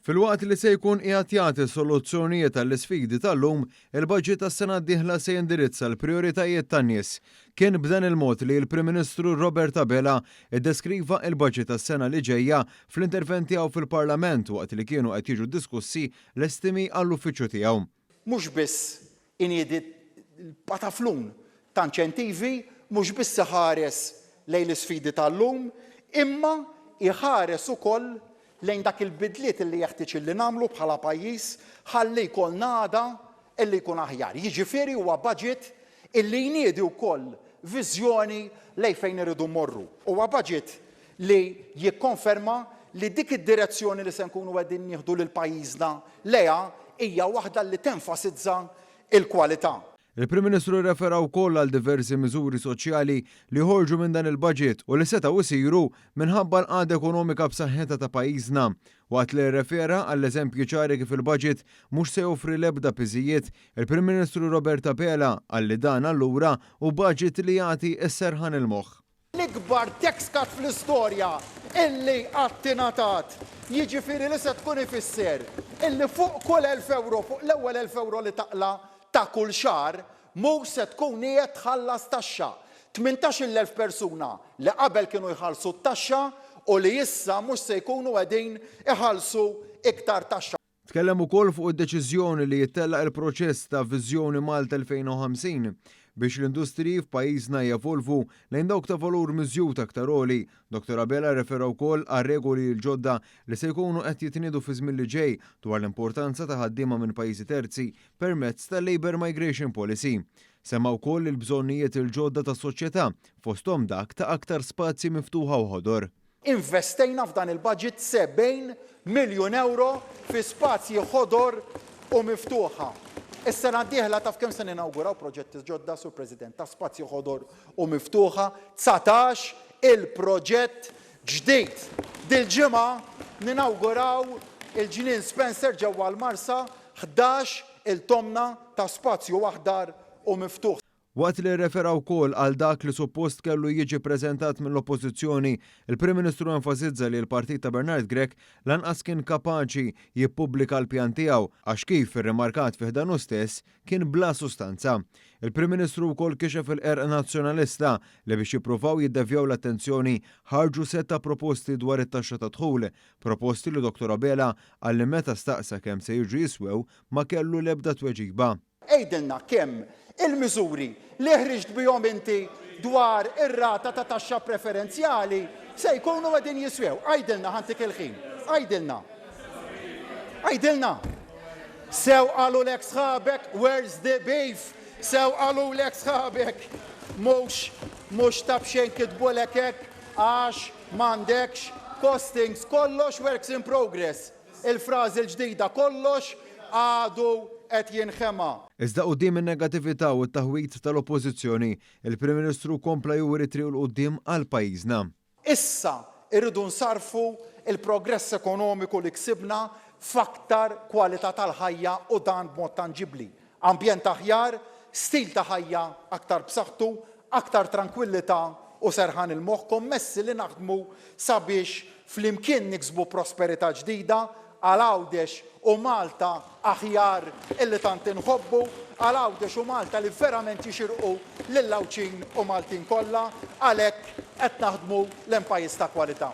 Filwaqt li se jkun qiegħed jagħti soluzzjonijiet għall-isfidi tal-lum, il-baġit tas-sena d-dieħla se jindirizza l-prijoritajiet tan-nies. Kien b'dan il-mod li l-Prim Ministru Robert Abela ddeskriva l-baġit għas-sena li ġejja fl-intervent tiegħu fil-Parlament waqt li kienu qed jiġu diskussi l-estimi għall-uffiċċju tiegħu. Mhux biss iniedi l-pataflun ta' inċentivi, mhux biss iħares lejn l-isfidi tal-lum, imma iħares ukoll lejn dak il-bidliet li jeħtieġ illi nagħmlu bħala pajjiż ħalli jkollna għada illi jkun aħjar. Jiġifieri huwa budget Illi jniedi wkoll viżjoni lejn fejn irridu mmorru. Huwa baġit li jikkonferma li dik id-direzzjoni li se nkunu qegħdin nieħdu lil pajjiżna lejha hija waħda li tenfasizza l-kwalità. Il-Prim Ministru rrefera wkoll għal diversi miżuri soċjali li joħorġu minn dan il-baġit u li setgħu jsiru minħabba l-qagħda ekonomika b'saħħitha ta' pajjiżna Waqt li rrefera għall-eżempji ċari kif il-baġit mhux se joffri l-ebda piżijiet, il-Prim Ministru Robert Abela qal li dan allura hu baġit li jagħti s-serħan il-moħħ. L-ikbar tax cut fl-istorja illi qatt ingħatat, jiġifieri li se tkun ifisser illi fuq kull elf ewro, fuq l-ewwel elf ewro li taqla' ta' kull xahar, Mhux se tkun qiegħed tħallas taxxa. Tmintax-il elf persuna li qabel kienu jħallsu t-taxxa u li issa mhux se jkunu qegħdin iħallsu iktar taxxa. Tkellem ukoll fuq id-deċiżjoni li jittella' il-proċess ta' Viżjoni Malta 2050 biex l-industriji f'pajjiżna jevolvu lejn dawk ta' valur miżjud aktar għoli. Dottor Abela rrefera wkoll għar-regoli l-ġodda li se jkunu qed jitniedu fiż-żmien li ġej dwar l-importanza ta' ħaddiema minn pajjiżi terzi permezz tal-Labour Migration Policy. Semma wkoll il-bżonnijiet il-ġodda tas-soċjetà, fosthom dak ta' aktar spazji miftuħa u ħodor. Investejna f'dan il-budget 70 miljun ewro fi spazji ħodor u miftuħa. Is-sena d-dieħla taf kemm se ninawguraw proġetti ġodda, Sur President, ta' spazji ħodor u miftuħa? Dsatax il-proġett ġdid. Dil-ġimgħa ninawguraw il-Ġnien Spencer ġewwa l-Marsa ħdax il tomna ta' spazju aħdar u miftuħ. Waqt li rrefera wkoll għal dak li suppost kellu jiġi ppreżentat mill-Oppożizzjoni, il-Prim Ministru enfasizza li l-partit ta' Bernard Grech lanqas kien kapaċi jippubblika l-pjan tiegħu għax kif irrimarkat fi ħdanu stess, kien bla sustanza. Il-Prim Ministru wkoll kixef il-qerq Nazzjonalista li biex jippruvaw jiddevjaw l-attenzjoni ħarġu sett ta' proposti dwar it-taxxa tad-dħul, proposti li Dottor Abela qal li meta staqsa kemm se jiġu jiswew ma kellu l-ebda tweġiba. Għidilna kemm il-miżuri li ħriġt bihom inti dwar ir-rata ta' taxxa preferenzjali se jkunu qegħdin jiswew. Għidilna ħantik il-ħin. Għidilna. Għidilna. Sew qalulek sħabek where's the beef? Sew qalulek sħabek mhux mhux ta' b'xejn kitbulek hekk għax m'għandekx costings kollox works in progress. Il-frażi l-ġdida kollox għadu qed jinħema. Iżda quddiem in-negatività u t-taħwid tal-Oppożizzjoni, il-Prim Ministru kompla juri t-triq 'l quddiem għal pajjiżna. Issa rridu nsarrfu l-progress ekonomiku li ksibna f'aktar kwalità tal-ħajja u dan b'mod tanġibbli. Ambjent aħjar, stil ta' ħajja aktar b'saħħtu, aktar trankwillità u serħan il-moħħ kommessi li naħdmu sabiex flimkien niksbu prosperità ġdida għal Għawdex u Malta aħjar illi tant inħobbu, għal Għawdex u Malta li verament jixirqu lil Għawdxin u Maltin kollha. Għalhekk qed naħdmu lejn pajjiż ta' kwalità.